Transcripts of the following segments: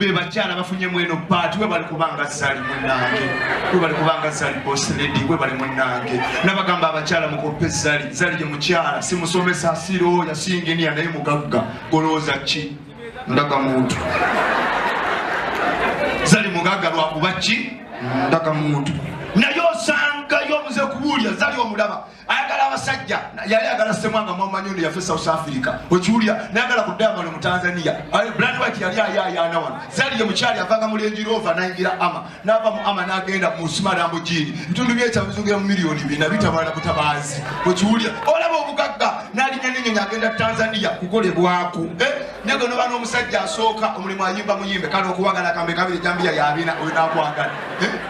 bebakyala bafunye mweno baati webali kubanga zali munange webali kubanga zali bosledi webali munange nabagamba abakyala mukope zali zali ye mukyala simusomesa sirooya singiniya naye mugagga golowooza ki ndaga muntu zali mugagga lwakuba ki ndaga muntu naye osangayo omuze kubuulya zali omulaba ayagala abasajja yali agala semwanga mwamanyi ono yafe south africa okiwulira nayagala ku diamond mu tanzania blandwit yali ayayaana wano zaliye mukyali avanga mulenjirova nayingira ama nava mu ama nagenda mu simarambo jini bitundu byekyabizungira mu miliyoni bina bitabala butabaazi okiwulira olaba obugagga nalinya nenyonyi agenda tanzania kukolebwaku eh? nege noba n'omusajja asooka omulimu ayimba muyimbe kale okuwagala kambe kabiri jambiya yabina oyo nakwagala eh?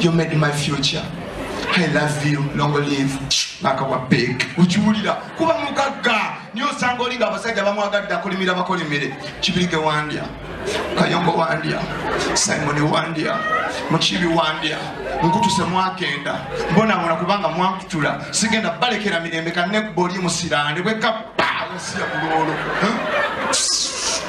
you made my future I love you long live baka wa big ukiwulira kuba mugagga niyo osanga olinga abasajja bamwagadde akolimira bakolimire kibirige wandya kayombo wandya simoni wandya mukibi wandya nkutuse mwagenda mbonabona kubanga mwankutula sigenda balekera mirembe kanekuba oli musirani bwekabba yasiya kulwolo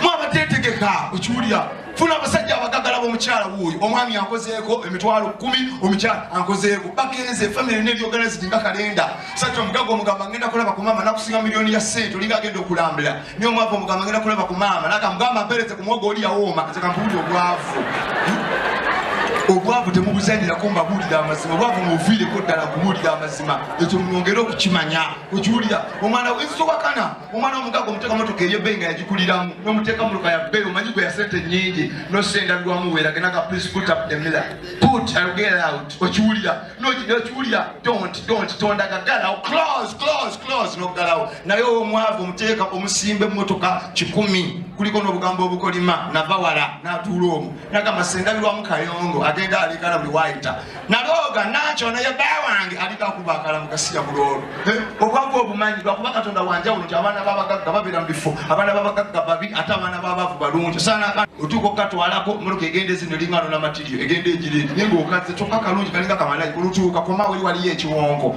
mwabatetegeka okiwulira funa abasajja abagagala bomukyala wuuyo omwami ankozeeko emitwalo kumi omukyala ankozeeko bagenze efamiry nebyoganizidi nga kalenda sajja omugaga omugamba ngenda kulaba ku maama nakusinga miliyoni ya sente olinga agenda okulambula naye omwava omugamba ngenda kulaba ku maama nakamugamba mpereze ku mwogo oli yawooma nze kampuulira obwavu obwavu temubuzanyirako mbabuulira amazima obwavu mubuviireko ddala kubuulira amazima ekyo mwongere okukimanya okiwulira omwana wensi towakana omwana omugaga omuteeka motoka eyebbeyi nga yagikuliramu nomuteeka motoka ya bbeyi omanyi gwe yasente nyingi nosendabirwamu weragenaga please put up the miller put I'll get out okiwulira nokiwulira don't don't tondaga galawo close close close nogalawo naye omwavu omuteeka omusimbe motoka kikumi kuliko nobugambo obukolima nava wala natuula omu nagamba sendabirwamu kayongo agenda alekana buli wayita nalooga nakyo naye bba wange aliko akuba akalamu gasiya bulwolo obwavu obumanyi lwakuba katonda wanjawulo nti abaana babagagga babeera mu bifo abaana babagagga babi ate abaana babavu balungi osaanaka otuuka okukatwalako muloka egenda ezino eringano namatirio egenda egirindi naye ngaokaze kyokka kalungi kalinga kamalayi olutuuka koma weri waliyo ekiwonko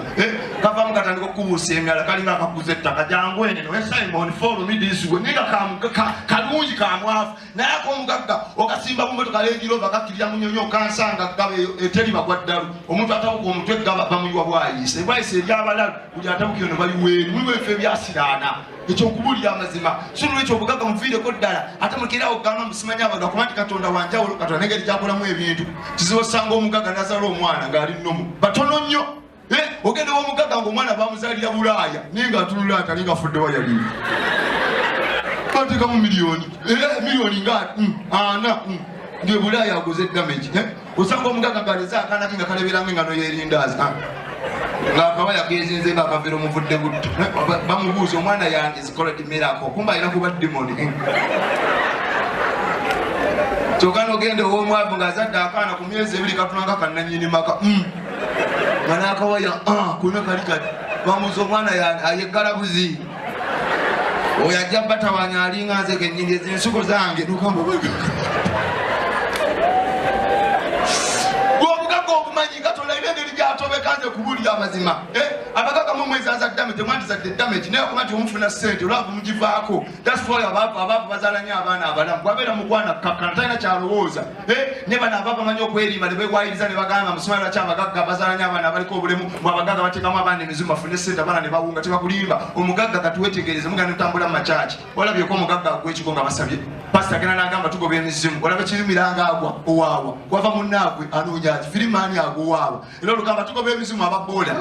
kavamu katandika okukubuusa emyala kalinga akakuza ettaka jangu eneno esimon follow me this way naye nga kalungi kamwavu naye akomugagga okasimba mumotoka lengirova kakkirira munyonyi okansanga gaba eteri bagwa ddalu omuntu atabuka omutwe gaba bamuyiwa bwayise bwayise ebyabalalu buli atabuka eno bayiweeri muliwo efe ebyasiraana ekyokubulira amazima sunula ekyobugagga muviireko ddala ate mukirawo gamba musimanya abantu akuba nti katonda wanjawulo katonda nengeri gyakolamu ebintu kizibu osanga omugagga nazala omwana ng'ali nomu batono nnyo Eh, ogenda wamugagga nga omwana bamuzalira bulaaya naye nga atunula atali nga afudde wayali batekamu miliyoni eh, miliyoni nga mm, ana mm. nge bulaaya aguze damage eh, osanga omugagga ngaleze akanaki nga kaleberange nga noyerindaazi ah. ngakaba yagezinze nga akavera omuvudde butto bamubuuza omwana yange zikola dimerako kumba alina kuba dimoni kyoka nogenda owomwavu ngaazadde akaana ku myezi ebiri katunanga kananyini maka mm. nga nakawaya ah, kuna kali kati bamuza omwana ayeggala buzi oyo ajja batawanya alinga nze kenyini ezi ensuko zange gwobugaga obumanyi nga tolaina engeri gyatobekanze kubulira amazima eh, abagaga mumwezazadame temwandizadde damage naye okuba nti omufuna sente olwava mugivaako That's why abaavu abaavu bazaala nnyo abaana abalamu bwabeera mukwana kkakkana talina kyalowooza eh, ne bano abaavu bamanyi okwerimba ne beewayiriza ne bagamba musumali lwaki abagagga bazaala nnyo abaana abaliko obulemu mu abagagga bateekamu abaana emizimu bafune sente abaana ne bawunga tebakulimba omugagga katuwetegereze mugana otambula mu makyaki olabyeko omugagga agwa ekigo nga basabye pasita agenda n'agamba tugoba emizimu olaba kirumiranga agwa owaawa wava munnaagwe anoonya ki firimaani agwa owaawa Era olugamba tugoba ebizimu aba boda.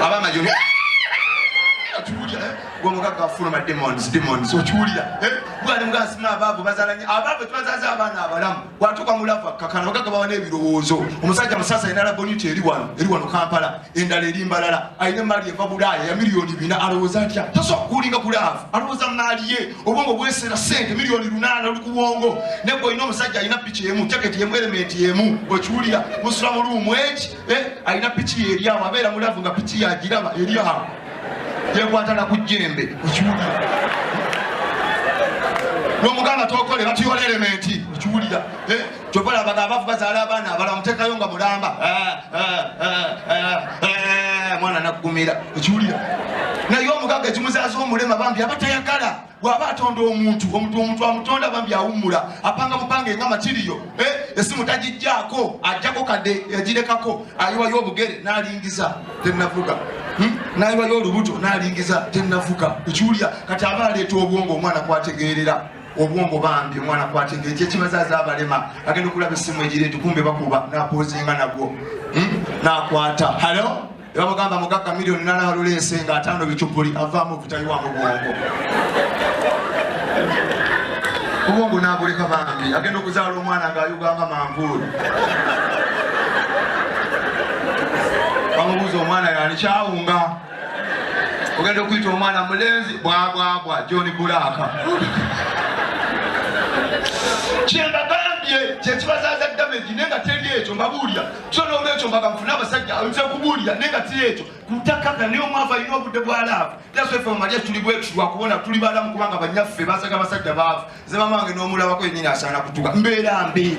Aba majori. Okiwulira eh? gwe omugagga afuluma demons demons okiwulira eh? gwali mugasima abaavu bazalanye abaavu tebazaza abaana abalamu watuuka mulavu akkakana bagagga bawa n'ebirowoozo omusajja musasa alina laboniti eri wano eri wano kampala endala eri mbalala alina emaali eva bulaaya ya miliyoni bina alowooza atya tasobola kukulinga kulaavu alowooza maali ye obwongo bwesera sente miliyoni lunaana oli ku bwongo ne gwe olina omusajja alina piki emu jaketi emu elementi emu bwekiwulira musula mu luumu eki eh, alina piki yeryawo abeera mulavu nga piki yagiraba eryawo yekwatala ku jjembe okiwulira nomugamba tokole batuyola elementi okiwulira eh, kyova labaga abafu bazaala abaana abala mutekayo nga mulamba eh, eh, eh, mwana nakugumira ekiwulira naye omugaga ekimuzaaza omulema bambi aba tayagala waba atonda omuntu omuntu omuntu amutonda bambi awummula apanga bupange nga matiriyo esimu tagijjaako ajjako kadde yagirekako ayiwayo obugere nalingiza tenavuga Hmm? nayiwayo olubuto nalingiza tenafuka ekiwulira kati aba aleeta obwongo omwana kwategeerera obwongo bambi omwana kwata engeri kyekibazaza abalema agenda okulaba esimu egiri nti kumbe bakuba napozinga nagwo hmm? nakwata halo ebamugamba mugagga milioni nalaluleese nga ataano bicupuli avaamu vutayiwa mu bwongo obwongo nabuleka bambi agenda okuzaala omwana nga ayuganga manvuulu bamubuuza omwana yani kyawunga ogenda okuyita omwana mulenzi bwabwabwa john bulaaka kyembagambye kyekibazaza damage naye nga teri ekyo mbabuulira kyo nolwekyo mbaga mfuna abasajja nze kubuulira naye nga tiri ekyo kutakaka naye omwava alina obudde bwa laavu yasffe mumalya tuli bwetu lwakubona tuli balamu kubanga banyaffe basaga abasajja baavu nze mama wange nomulabako yenyini asaana kutuka mbeera mbi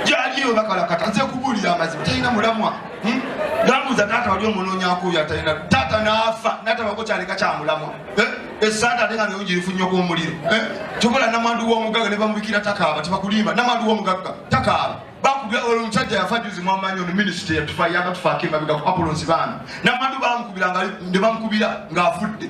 jaliyo bakalakata nze kubuulira amazima talina mulamwa hmm? namuza taata wali omunoonyakuyo atalina taata naafa natabako kyaleka kyamulamwa eh? esaata ate nga nayo girifunyoko omuliro eh? kyokola namwandu womugagga nebamubikira takaaba tebakulimba namwandu womugagga takaaba bakubira olwo omusajja yafa juzi mwamanyi ono minisita yatufa yagatufaako emabega ku apolonsi baana namwandu bamukubira nebamukubira ng'afudde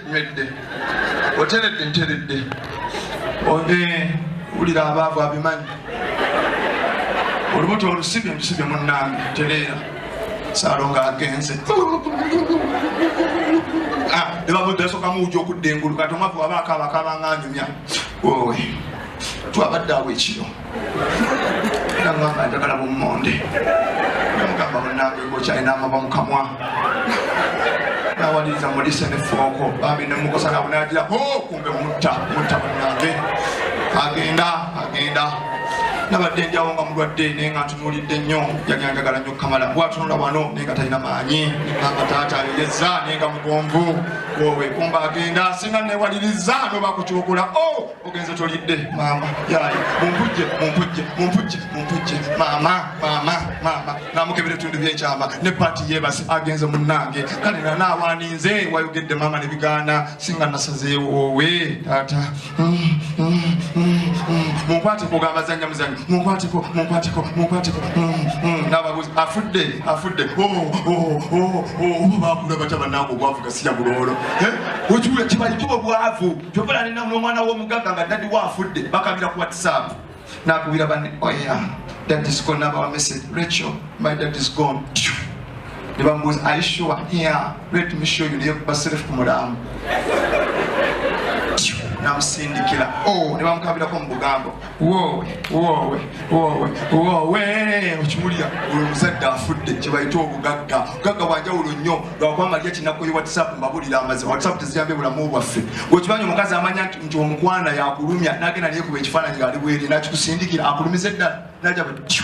Wedde. Oteredde nteredde. Onge wulira abaavu abimanyi. Olubuto olusibye lusibye munnange tereera. Saalongo agenze. Ah, ne babudde asooka muwuja okudda engulu kati omwavu waba akaaba akaaba nga anyumya. Wowe. Twabadde awo ekiro. nagamba njagala bummonde namugamba munange gokyalina amaba mukamwa nawaliriza mulise nefooko bambi nemukosa nabunagira ho kumbe mutta mutta munange agenda agenda nabadde njawo nga mulwadde naye nga ntunulidde nnyo yali anjagala nnyo kamala bwatunula wano naye nga talina maanyi nanga taata ayogeza naye nga mugonvu owe kumba agenda singa newaliriza nobakukyukula o oh, ogenze tolidde maama yaye mumpujje mumpujje mumpujje mumpujje maama maama maama namukebera etundu byekyama ne paati yebasi agenze munange kale nanaawaninze wayogedde maama nebigaana singa nasazeewowe taata munkwateko ogambazanya muzanyo munkwateko munkwateko munkwateko nababuzi afudde afudde oba bakula bata banange obwavu gasiya buloolo okiwula kibayitibwa obwavu jobula alina nomwana womugaga nga dadi wa afudde bakabira ku whatsapp nakubira bane oya oh dadis gone nabawa message rachel my dad is gone nebamubuuza are you sure yeah let me show you naye kuba self ku mulamu namusindikira o oh, nebamukabirako mu bugambo woowe woowe woowe woowe okiwulira oyo omuzadde afudde kyebayita obugagga ogagga bwanjawulo nnyo lwakwamalya kinakko ye whatsapp mbabulira amazi whatsapp teziyambye bulamu bwaffe wekimanyi omukazi amanya nti omukwana yakulumya nagenda neyekuba ekifaananyi ngaali bwere nakikusindikira akulumiza eddala naja bati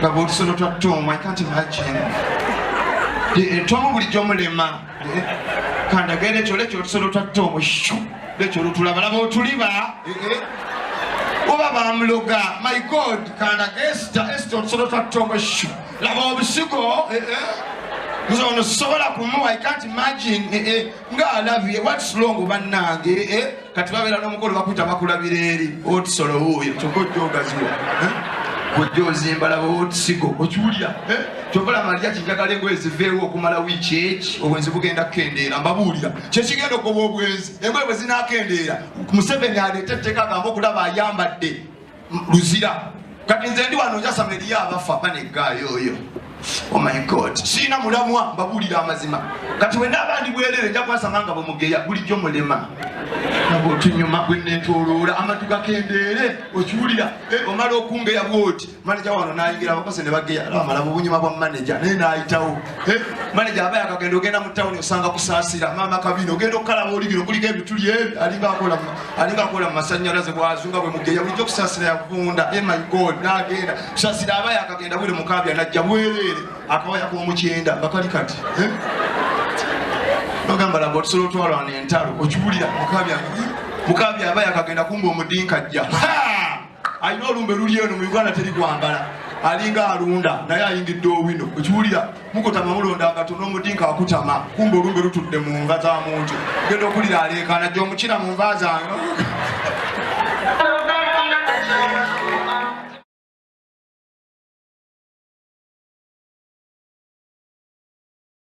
nga bwotusono twa tom i can't imagine eh, tom bulijjo mulema eh, kandagera ekyo lekyo otusolo twa tom shu lekyo olutulabalaba otuliba eh, oba bamuloga my god kandaga esita esita otusolo twa tom shu laba obusigo nze ono sobola kumuwa i can't imagine nga alabye what's wrong bannange eh? kati babeera n'omukolo bakuta bakulabira eri otisolo wuuyo kyokka ojja ogaziwa eh? ojja ozimba laba otisigo okiwulira eh? kyova laba lya kinjagala engoye ziveewo okumala wiiki eki obwenzi bugenda kukendeera mbabuulira kyekigenda okugoba obwenzi engoye bwe zinakendeera museveni aleeta etteeka agamba okulaba ayambadde luzira kati nze ndi wano njasama eriyo abafa baneggaayo oyo oh my god siina mulamwa mbabuulira amazima kati wena abandi bwerere nja kwasama nga bwemugeya bulijjo mulema nabo otunyuma gwenetoloora amatu gakendeere okiwulira eh, omala okungeya bwoti maneja wano nayingira abakose ne bageya amala mu bunyuma bwa maneja naye nayitawo eh, maneja aba yakagenda ogenda mu tawuni osanga kusaasira maama kabina ogenda okukalaba oli bino kuliko ebituli ebyo alinga akola alinga akola mumasanyalaze bwazunga bwe mugeya bulijjo kusasira yavunda e eh my god nagenda kusasira aba yakagenda wire mukabya najja bwereere akawaya k'omukyenda nga kali kati eh? bagamba laba otusola otwalwana entalo okiwulira mukabya mukabya aba yakagenda kumba omudinka ajja alina olumbe luli eno mu uganda teri kwambala alinga alunda naye ayingidde owino okiwulira mukutama mulonda nga tuna omudinka akutama kumba olumbe lutudde mu nva za muntu genda okulira aleekaana gye omukira mu nva zange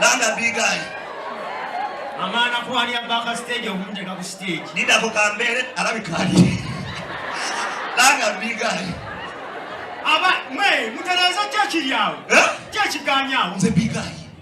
Landa big guy. Amana kwali abaka stage okumuteka ku stage. Nida ko kambere alabikali. Landa big guy. Aba mwe mutereza church yawo. Eh? Church ganyawo. Nze big guy.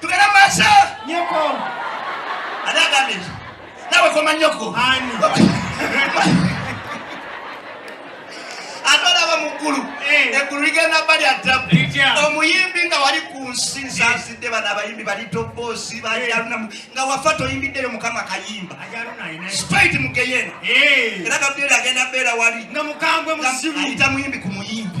Tugenda masa. Nyoko. Anagambye nti nawe koma nyoko. Ani. Atwalaba mu ggulu. Eh. Eggulu ligenda bali atabu. Omuyimbi nga wali ku nsi eh. nsansidde bano abayimbi bali toboosi bajalunamu eh. nga wafa toyimbiddeyo mukama kayimba. Straight mu geyena. Era Gabriel agenda beera wali. Nga mukambwe muzibu. Ayita muyimbi ku muyimbi.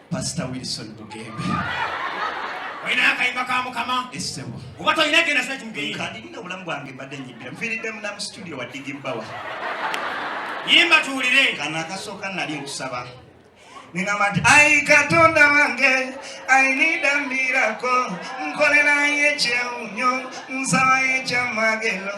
Pastor Wilson Bugembe. Oyina akayimba ka mukama essebo oba tolina genda sina kimugeyi kati nina obulamu bwange mbadde nyimbira nfiiriddemu na mu situdiyo wa digi bbawa yimba tuwulire kano akasooka nali nkusaba ningamba nti ai katonda wange ainida mbirako nkolerayo ekyewunyo nsabayo ekyamagero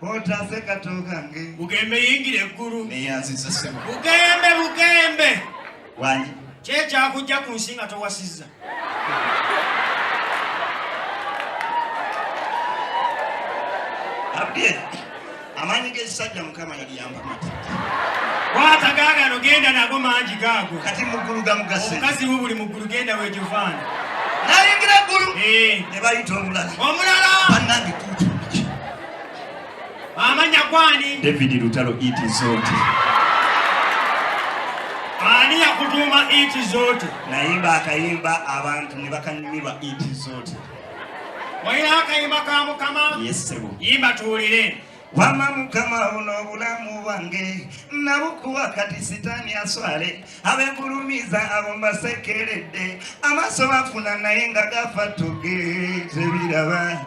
Otaase kato kange. Bugembe yingira eggulu. Neyanziza ssebo. Bugembe bugembe. Wanyi. Kyekyakujja ku nsi nga towasizza. Abdye. Amaanyi g'ekisajja Mukama yaliyamba mati. Kwata gaagano genda nago mangi gaago. Kati muggulu gamugase. Omukazi wo buli muggulu genda wejovaana. Nayingira eggulu. Eh. Ne bayita omulala. Omulala. Bannange tuutu. Amanya gwani? David Lutalo iti zote. Ani yakutuma iti zote? Naimba akaimba abantu ne bakanyumirwa iti zote. Wayira akaimba ka Mukama? Yes, sebo. Imba tuwulire. Wama mukama uno bulamu wange nabukuwa kati sitani aswale abegulumiza abo mbasekeredde amaso bafuna naye nga gafa tugezebiraba